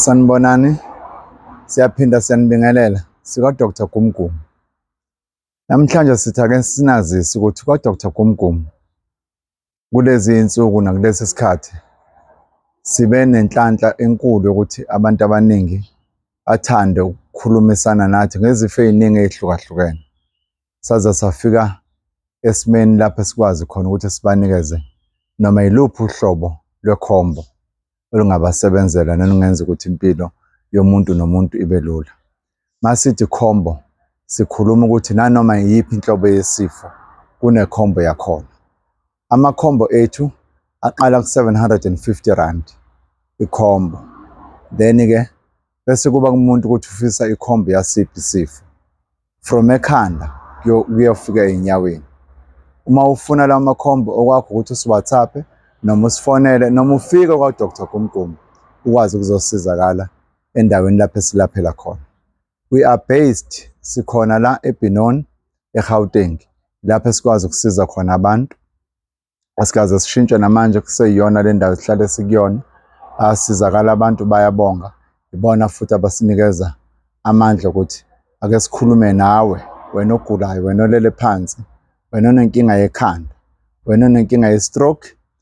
Sanibonani, siyaphinda siyanibingelela sika-Doctor Gumgum. Namhlanje sithi ake sinazise ukuthi kwa-Doctor Gumgum kulezi iy'nsuku nakulesi sikhathi sibe nenhlanhla enkulu yokuthi abantu abaningi bathande ukukhulumisana nathi ngezifo ey'ningi ey'hlukahlukene. saze safika esimeni lapho esikwazi khona ukuthi sibanikeze noma yiluphi uhlobo lwekhombo olungabasebenzela nolungenza ukuthi impilo yomuntu nomuntu ibe lula. Masithi khombo sikhuluma ukuthi nanoma iyiphi inhlobo yesifo kunekhombo yakhona. Amakhombo ethu aqala ku-750 ikhombo then-ke bese kuba kumuntu ukuthi ufisa ikhombo yasiphi isifo from ekhanda kuyofika ey'nyaweni uma ufuna lawo makhombo okwakho ukuthi usiwhatsappe noma usifonele noma ufike kwa-dr gumgum ukwazi ukuzosizakala endaweni lapho esilaphela khona We are based sikhona la eBinon eGauteng lapho esikwazi ukusiza khona abantu asikaze sishintshe namanje kuseyiyona le ndawo sihlale sikuyona asizakala abantu bayabonga ibona futhi abasinikeza amandla ukuthi ake sikhulume nawe wena ogulayo wena olele phansi wena onenkinga yekhanda wena onenkinga ye-stroke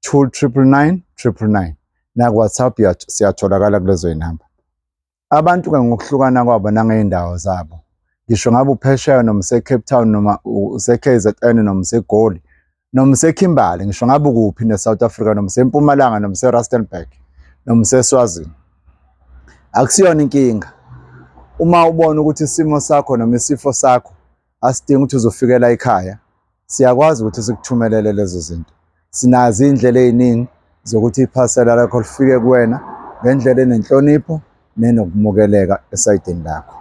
two triple nine triple nine nakuwhatsapp siyatholakala kulezo zinamba abantu-ke ngokuhlukana kwabo nangey'ndawo zabo ngisho ngabe uphesheya noma usecape town noma use-k z n noma usegoli noma usekhimbali ngisho ngabe ukuphi ne-south africa noma usempumalanga noma userustenburg noma useswazini akusiyona inkinga uma ubona ukuthi isimo sakho noma isifo sakho asidingi ukuthi uzofikela ekhaya siyakwazi ukuthi sikuthumelele lezo zinto sinazo iy'ndlela ey'ningi zokuthi iphasela lakho lifike kuwena ngendlela enenhlonipho nenokumukeleka esayidini lakho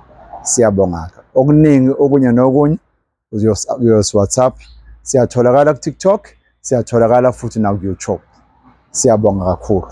siyabongaka okuningi okunye nokunye uyosiwhatsapp siyatholakala kutiktok siyatholakala futhi nakuyoutube siyabonga kakhulu